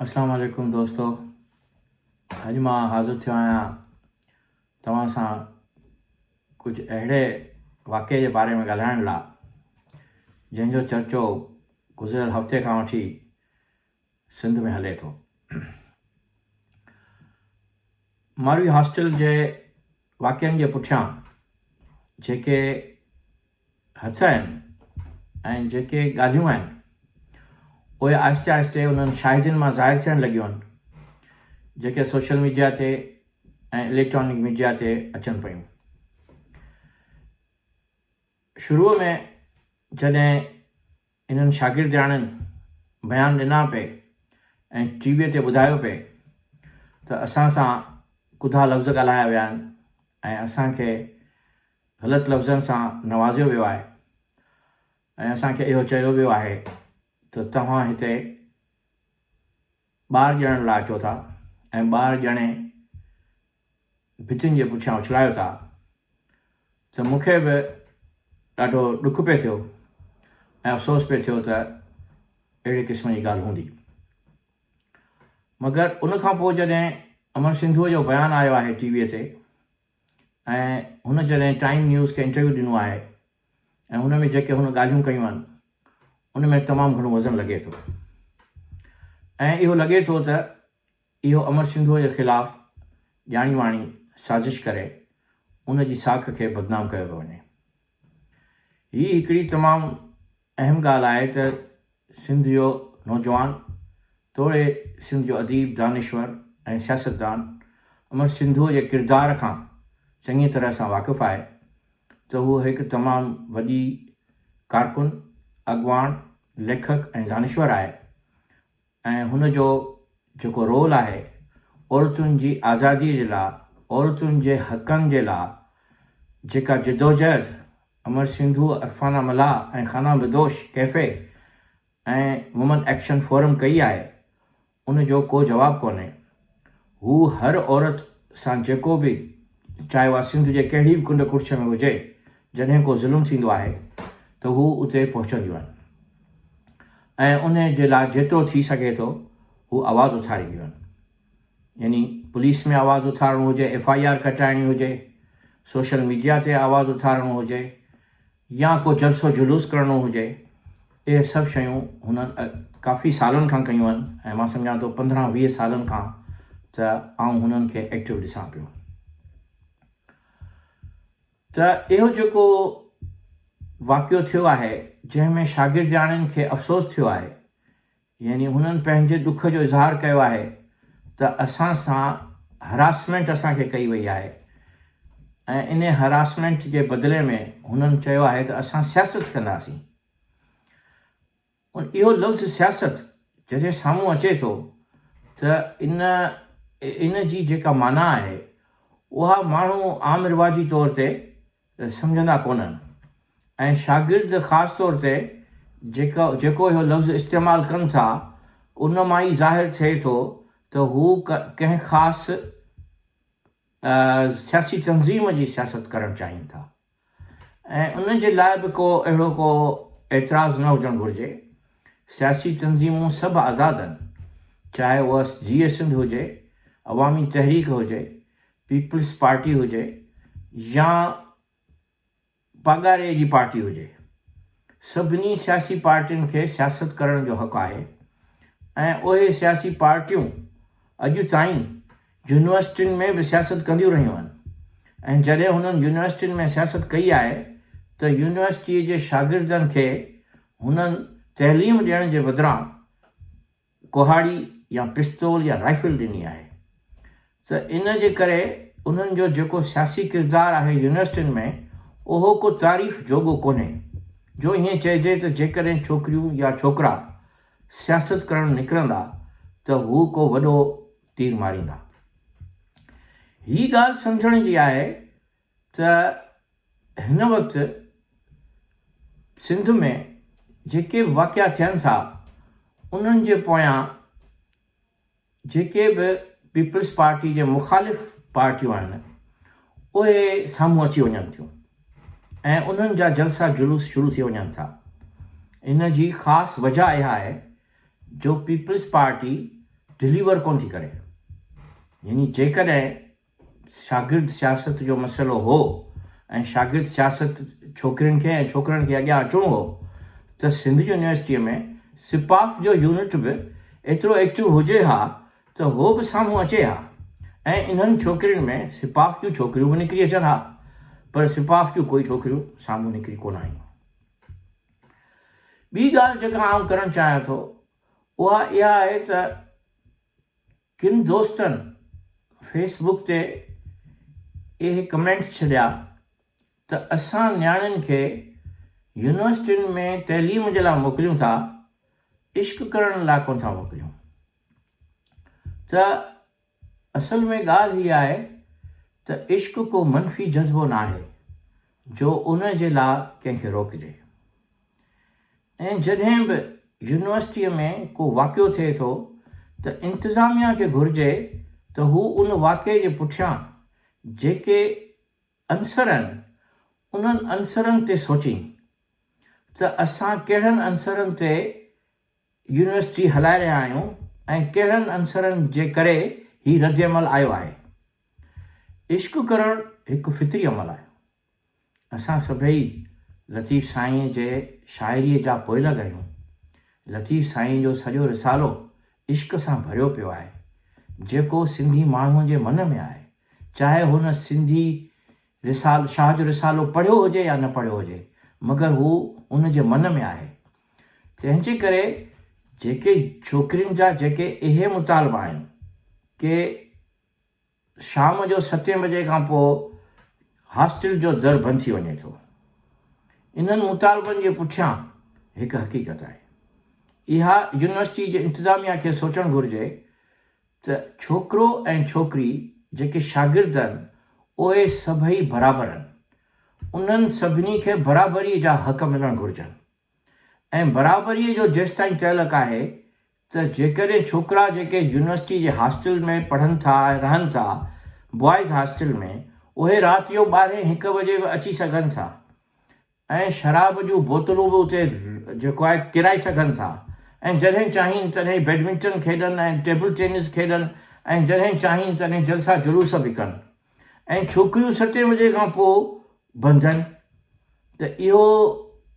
اسلام عليڪم دوستو اڄ مان حاضر ٿيو آهيان توهان سان ڪجهه اهڙي واقعي جي باري ۾ ڳالهائڻ لاء جنهن جو چرچو گذريل هفتي کان وٺي سنڌ ۾ هلي ٿو ماروي هاسٽل جي واقعن جي پٺيان جيڪي هٿ آهن ۽ جيڪي ڳالهيون آهن، اهي آهستي آهستي انهن شاهدين مان ظاهر ٿيڻ لڳيون آهن، جيڪي سوشل ميڊيا تي ۽ اليڪٽرانڪ ميڊيا تي اچن پيون. شروع ۾ جڏهن انهن شاگردياڻين بيان ڏنا پي ۽ ٽي وي تي ٻڌايو پي ته اسان سان ڪڌا لفظ ڳالهايا ويا آهن ۽ اسان کي غلط لفظن سان نوازيو ويو آهي ۽ اسان کي اهو چيو ويو آهي ته توهان هتي ٻار ڄڻڻ لاء اچو ٿا ۽ ٻار ڄڻي ڀتين جي پٺيان اڇلايو ٿا ته مون کي به ڏاڍو ڏک پئي ٿيو ۽ افسوس پئي ٿيو ته اهڙي قسم جي ڳالهه هوندي. مگر ان کان پوء جڏهن امن سنڌوء جو بيان آيو آهي ٽي ويء تي، ۽ هن جڏهن ٽائيم نيوز کي انٽرويو ڏنو آهي ۽ هن ۾ جيڪي هن ڳالهيون ڪيون آهن ان ۾ تمام گهڻو وزن لڳي ٿو ۽ اهو لڳي ٿو ته اهو امر سنڌوء جي خلاف ڄاڻي واڻي سازش ڪري ان جي ساک کي بدنام ڪيو پيو وڃي. هي هڪڙي تمام اهم ڳالهه آهي ته سنڌ جو نوجوان توڙي سنڌ جو اديب، دانشور ۽ سياستدان امر سنڌوء جي ڪردار کان چڱيء طرح سان واقف آهي ته هو هڪ تمام وڏي ڪارڪن، اڳواڻ، ليکڪ ۽ دانشور آهي. ۽ هن جو جيڪو رول آهي عورتن جي آزادي جي لا عورتن جي حقن جي لا جيڪا جدوجهد امر سنڌو عرفانه ملاح ۽ خانه بدوش ڪيفي ۽ وومن ايڪشن فورم ڪئي آهي ان جو ڪو جواب ڪونهي. هو هر عورت سان جيڪو به چاهي اها سنڌ جي ڪهڙي به ڪنڊ ڪڙڇ ۾ هجي جڏهن ڪو ظلم ٿيندو آهي ته هو اتي پهچنديون آهن ۽ ان جي لاء جيترو ٿي سگهي ٿو هو آواز اٿارينديون آهن يعني پوليس ۾ آواز اٿارڻو هجي ايف آء آر ڪٽائڻي هجي سوشل ميڊيا تي آواز اٿارڻو هجي يا ڪو جلسو جلوس ڪرڻو هجي اهي سڀ شيون هنن ڪافي سالن کان ڪيون آهن ۽ مان سمجهان ٿو پندرهن ويهه سالن کان ته آئون هنن کي ايڪٽو ڏسان پيو ته اهو جيڪو واقعو ٿيو آهي جنهن ۾ شاگردياڻين کي افسوس ٿيو آهي يعني هنن پنهنجي ڏک جو اظهار ڪيو آهي ته اسان سان هراسمينٽ اسان کي ڪئي وئي آهي ۽ انهي هراسمينٽ جي بدلي ۾ هنن چيو آهي ته اسان سياست ڪنداسين. اهو لفظ سياست جڏهن سامهون اچي ٿو ته ان ان جي جيڪا معنيٰ آهي اها ماڻهو عام رواجي طور تي سمجهندا ڪونهن ۽ شاگرد خاص طور تي جيڪو جيڪو اهو لفظ استعمال ڪن ٿا ان مان ئي ظاهر ٿئي ٿو ته هو ڪنهن خاص سياسي تنظيم جي سياست ڪرڻ چاهين ٿا ۽ ان جي لاء به ڪو اهڙو ڪو اعتراض نه هجڻ گهرجي سياسي تنظيمون سڀ آزاد آهن چاهي اها جيئي سنڌ هجي عوامي تحريڪ هجي پيپلز پارٽي هجي يا پاڳاري جي پارٽي هجي، سڀني سياسي پارٽين کي سياست ڪرڻ جو حق آهي ۽ اهي سياسي پارٽيون اڄ تائين يونيورسٽين ۾ به سياست ڪنديون رهيون آهن ۽ جڏهن هنن يونيورسٽين ۾ سياست ڪئي آهي ته يونيورسٽيء جي شاگردن کي هنن تعليم ڏيڻ جي بدران ڪهاڙي يا پستول يا رائفل ڏني آهي ته ان جي ڪري انهن جو جيڪو سياسي ڪردار آهي يونيورسٽين ۾ اهو ڪو تعريف جوڳو ڪونهي جو ائين چئجي ته جيڪڏهن ڇوڪريون يا ڇوڪرا سياست ڪرڻ نڪرندا ته هو ڪو وڏو تير ماريندا. هي ڳالهه سمجهڻ جي آهي ته هن وقت سنڌ ۾ جيڪي به واقعا ٿين ٿا انهن جي پويان جيڪي به پيپلز پارٽي جي مخالف پارٽيون آهن اهي سامهون اچي وڃن ٿيون ۽ انهن جا جلسا جلوس شروع ٿي وڃن ٿا ان جي خاص وجه اها آهي جو پيپلز پارٽي ڊليور ڪونه ٿي ڪري يعني جيڪڏهن شاگرد سياست جو مسئلو هو ۽ شاگرد سياست ڇوڪرين کي ۽ ڇوڪرن کي اڳيان اچڻو هو ته سنڌ يونيورسٽيء ۾ سپاف جو يونٽ به ايترو ايڪٽو هجي ها ته هو به سامهون اچي ها ۽ انهن ڇوڪرين ۾ سپاف جون ڇوڪريون به نڪري اچن ها پر سپاف جون ڪوئي ڇوڪريون سامهون نڪري ڪونه آيون. ٻي ڳالهه جيڪا آئون ڪرڻ چاهيان ٿو اها اها آهي ته ڪن دوستن فيس بڪ تي اهي ڪمينٽس ڇڏيا ته اسان نياڻين کي يونيورسٽين ۾ تعليم جي لاء موڪليون ٿا عشق ڪرڻ لاء ڪونه ٿا موڪليون ته اصل ۾ ڳالهه هي آهي ته عشق ڪو منفي جذبو ناهي جو ان جي لاء ڪنهن کي روڪجي ۽ جڏهن به يونيورسٽيء ۾ ڪو واقعو ٿئي ٿو ته انتظاميا کي گهرجي ته هو ان واقعي جي پٺيان جيڪي عنصر آهن انهن عنصرن تي سوچين ته اسان ڪهڙن عنصرن تي يونيورسٽي هلائي رهيا آهيون ۽ ڪهڙن عنصرن جي ڪري هي ردعمل آيو آهي. عشق ڪرڻ هڪ فطري عمل آهي. اسان سڀئي لطيف سائينء جي شاعريء جا پوئلڳ آهيون. لطيف سائينء جو سڄو رسالو عشق سان ڀريو پيو آهي، جيڪو سنڌي ماڻهوء جي من ۾ آهي، چاهي هن سنڌي رسال شاهه جو رسالو پڙهيو هجي يا نه پڙهيو هجي، مگر هو ان جي من ۾ آهي. تنهنجي ڪري جيڪي ڇوڪرين جا جيڪي اهي مطالبا آهن ڪي، شام جو ستين بجي کان پوء هاسٽل جو در بند ٿي وڃي ٿو. انهن مطالبن جي پٺيان هڪ حقيقت آهي. اها يونيورسٽي جي انتظاميا کي سوچڻ گهرجي ته ڇوڪرو ۽ ڇوڪري جيڪي شاگرد آهن اهي سڀئي برابر آهن. انهن سڀني کي برابري جا حق ملڻ گهرجن. ائين برابريء جو جيستائين تعلق آهي ته جيڪڏهن ڇوڪرا جيڪي يونيورسٽي جي هاسٽل ۾ پڙهن ٿا ۽ رهن ٿا، بوائز هاسٽل ۾، اهي رات جو ٻارهين هڪ بجي به اچي سگهن ٿا ۽ شراب جون بوتلون به اتي جيڪو آهي ڪيرائي سگهن ٿا ۽ جڏهن چاهين تڏهن بيڊمنٽن کيڏن ۽ ٽيبل ٽينس کيڏن ۽ جڏهن چاهين تڏهن جلسا جلوس به ڪن. ۽ ڇوڪريون ستين وجهي کان پوء بنجن ته اهو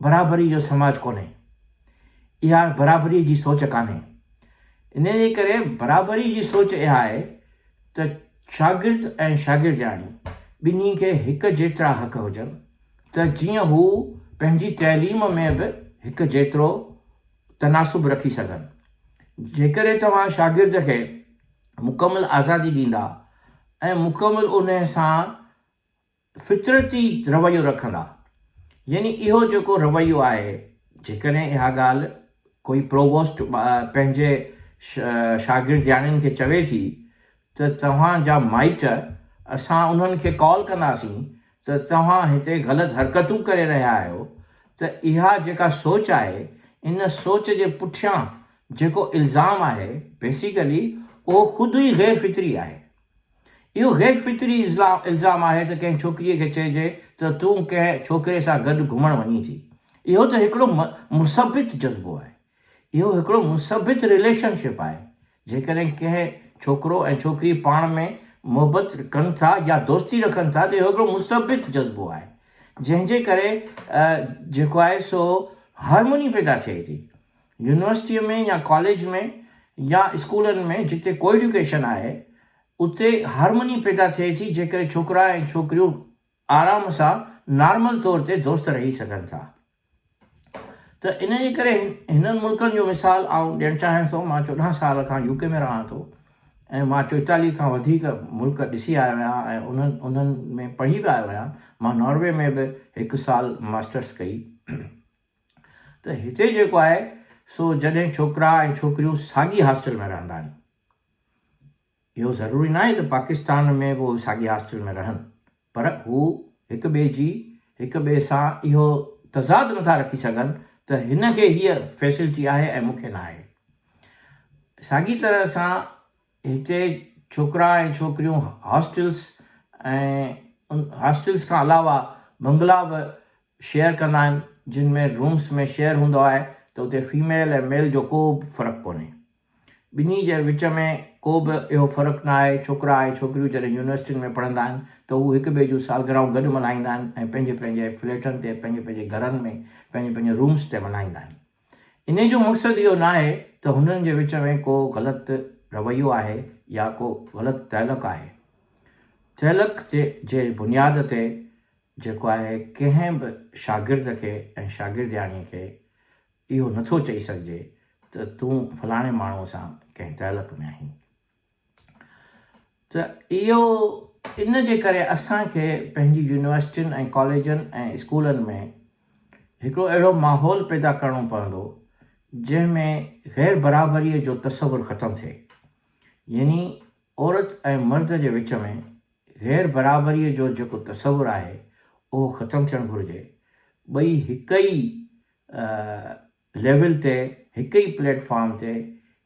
برابري جو سماج ڪونهي. اها برابري جي سوچ ڪانهي. انهيء جي ڪري برابري جي سوچ اها آهي ته شاگرد ۽ شاگردياڻي ٻنهي کي هڪ جيترا حق هجن ته جيئن هو پنهنجي تعليم ۾ به هڪ جيترو تناسب رکي سگهن. جيڪڏهن توهان شاگرد کي مڪمل آزادي ڏيندا، ۽ مڪمل انهيء سان فطرتي رويو رکندا. يعني اهو جيڪو رويو آهي، جيڪڏهن اها ڳالهه ڪوئي پروووسٽ پنهنجي شاگردياڻين کي چوي ٿي ته توهان جا مائٽ اسان انهن کي ڪال ڪنداسين ته توهان هتي غلط حرڪتون ڪري رهيا آهيو ته اها جيڪا سوچ آهي ان سوچ جي پٺيان جيڪو الزام آهي بيسيڪلي اهو خود ئي غير فطري آهي اهو غير فطري الزام آهي ته ڪنهن ڇوڪري کي چئجي ته تون ڪنهن ڇوڪري سان گڏ گهمڻ وڃين ٿي اهو ته هڪڙو مثبت جذبو آهي اهو هڪڙو مثبت رليشن شپ آهي. جيڪڏهن ڪنهن ڇوڪرو ۽ ڇوڪري پاڻ ۾ محبت ڪن ٿا يا دوستي رکن ٿا ته اهو هڪڙو مثبت جذبو آهي جنهن جي ڪري جيڪو آهي سو هارموني پيدا ٿئي ٿي. يونيورسٽيء ۾ يا ڪاليج ۾ يا اسڪولن ۾ جتي ڪو ايڊيوڪيشن آهي اتي هارموني پيدا ٿئي ٿي جيڪڏهن ڇوڪرا ۽ ڇوڪريون آرام سان نارمل طور تي دوست رهي سگهن ٿا. ته ان جي ڪري هنن ملڪن جو مثال آئون ڏيڻ چاهيان ٿو مان چوڏهن سال کان يو ڪي ۾ رهان ٿو ۽ مان چوئيتاليهه کان وڌيڪ ملڪ ڏسي آيو آهيان ۽ انهن انهن ۾ پڙهي به آيو آهيان مان ناروي ۾ به هڪ سال ماسٽرس ڪئي ته هتي جيڪو آهي سو جڏهن ڇوڪرا ۽ ڇوڪريون ساڳي هاسٽل ۾ رهندا آهن اهو ضروري ناهي ته پاڪستان ۾ به اهي ساڳي هاسٽل ۾ رهن پر هو هڪ ٻئي جي هڪ ٻئي سان اهو تضاد نٿا رکي سگهن ته هن کي هيء فيسلٽي آهي ۽ مون کي ناهي. ساڳي طرح سان هتي ڇوڪرا ۽ ڇوڪريون هاسٽلز ۽ هاسٽلز کان علاوه بنگلا به شيئر ڪندا آهن جن ۾ رومز ۾ شيئر هوندو آهي ته اتي فيميل ۽ ميل جو ڪو به فرق ڪونهي. ٻنهي جي وچ ۾ ڪو به اهو فرق نه آهي، ڇوڪرا ۽ ڇوڪريون جڏهن يونيورسٽين ۾ پڙهندا آهن ته هو هڪ ٻئي جون سالگرهائون گڏ ملهائيندا آهن ۽ پنهنجي پنهنجي فليٽن تي، پنهنجي پنهنجي گهرن ۾، پنهنجي پنهنجي رومس تي ملهائيندا آهن. انهي جو مقصد اهو نه آهي ته هنن جي وچ ۾ ڪو غلط رويو آهي يا ڪو غلط تعلق آهي. تعلق جي بنياد تي جيڪو آهي ڪنهن به شاگرد کي ۽ شاگردياڻيء کي اهو نه ٿو چئي سگهجي ته تون فلاڻي ماڻهوء سان ڪنهن تعلق ۾ آهين. ته اهو ان جي ڪري اسان کي پنهنجي يونيورسٽين ۽ ڪاليجن ۽ اسڪولن ۾ هڪڙو اهڙو ماحول پيدا ڪرڻو پوندو جنهن ۾ غير برابريء جو تصور ختم ٿئي يعني عورت ۽ مرد جي وچ ۾ غير برابريء جو جيڪو تصور آهي اهو ختم ٿيڻ گهرجي ٻئي هڪ ئي ليول تي هڪ ئي پليٽ فارم تي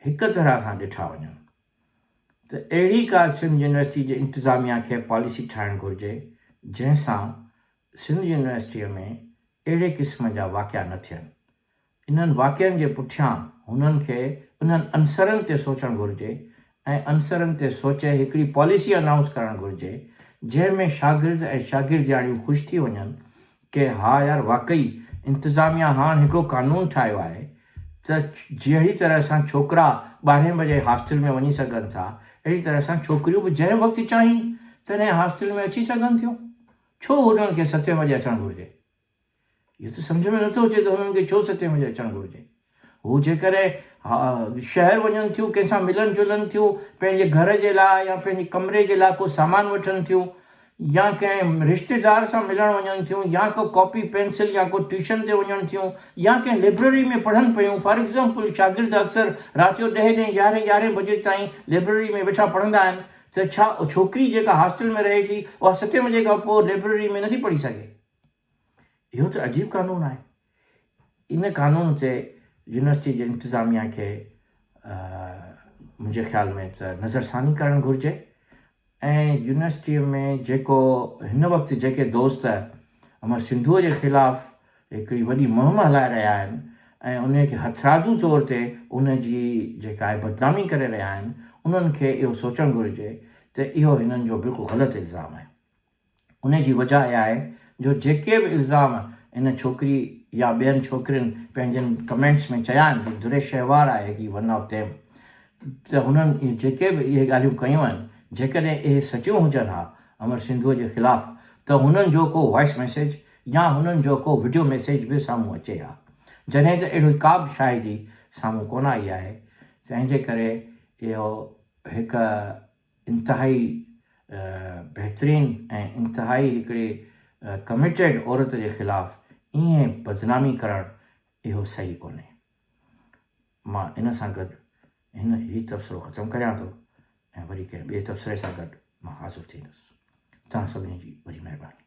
هڪ طرح سان ڏٺا وڃن ته اهڙي ڪا سنڌ يونيورسٽي جي انتظاميا کي پاليسي ٺاهڻ گهرجي جنهن سان سنڌ يونيورسٽيء ۾ اهڙي قسم جا واقعا نه ٿين. انهن واقعن جي پٺيان هنن کي انهن عنصرن تي سوچڻ گهرجي ۽ عنصرن تي سوچي هڪڙي پاليسي انائونس ڪرڻ گهرجي جنهن ۾ شاگرد ۽ شاگردياڻيون خوش ٿي وڃن ڪي ها يار واقعي انتظاميا هاڻ هڪڙو قانون ٺاهيو آهي ته جهڙي طرح سان ڇوڪرا ٻارهين بجي هاسٽل ۾ وڃي سگهن ٿا اهڙي طرح سان ڇوڪريون به جنهن وقت چاهين تنهن هاسٽل ۾ اچي سگهن ٿيون ڇو هنن کي ستين وڄي اچڻ گهرجي. اهو ته سمجهه ۾ نٿو اچي ته هنن کي ڇو ستين بجي اچڻ گهرجي. هو جيڪڏهن شهر وڃن ٿيون، ڪنهن سان ملن جلن ٿيون، پنهنجي گهر جي لاء يا پنهنجي ڪمري جي لاء ڪو سامان وٺن ٿيون يا ڪنهن رشتيدار سان ملڻ وڃن ٿيون يا ڪو ڪاپي پينسل يا ڪو ٽيوشن تي وڃڻ ٿيون يا ڪنهن لئبرري ۾ پڙهن پيون فار ايگزامپل شاگرد اڪثر رات جو ڏهين ڏهين يارهين يارهين بجي تائين لئبرري ۾ ويٺا پڙهندا آهن ته ڇا ڇوڪري جيڪا هاسٽل ۾ رهي ٿي اها ستين بجي کان پوء لئبرري ۾ نٿي پڙهي سگهي. اهو ته عجيب قانون آهي. ان قانون تي يونيورسٽي جي انتظاميا کي منهنجي خيال ۾ ته نظرثاني ڪرڻ گهرجي ۽ يونيورسٽي ۾ جيڪو هن وقت جيڪي دوست امر سنڌوء جي خلاف هڪڙي وڏي مهم هلائي رهيا آهن ۽ ان کي هٿرادو طور تي ان جي جيڪا آهي بدنامي ڪري رهيا آهن انهن کي اهو سوچڻ گهرجي ته اهو هنن جو بلڪل غلط الزام آهي. ان جي وجهه اها آهي جو جيڪي به الزام ان ڇوڪري يا ٻين ڇوڪرين پنهنجن ڪمينٽس ۾ چيا آهن ته دريش شهوار آهي هي ون آف ديم ته هنن جيڪي به اهي ڳالهيون ڪيون آهن جيڪڏهن اهي سچيون هجن ها امر سنڌوء جي خلاف ته هنن جو ڪو وائس ميسيج يا هنن جو ڪو وڊيو ميسيج به سامهون اچي ها جڏهن ته اهڙي ڪابه شاهدي سامهون ڪونه آئي آهي تنهنجي ڪري اهو هڪ انتهائي بهترين ۽ انتهائي هڪڙي ڪمٽيڊ عورت جي خلاف ائين بدنامي ڪرڻ اهو صحيح ڪونهي. مان ان سان گڏ هن هي تبصرو ختم ڪريان ٿو ۽ وري ڪنهن ٻئي تبصري سان گڏ مان حاضر ٿيندس. توهان سڀني جي وڏي مهرباني.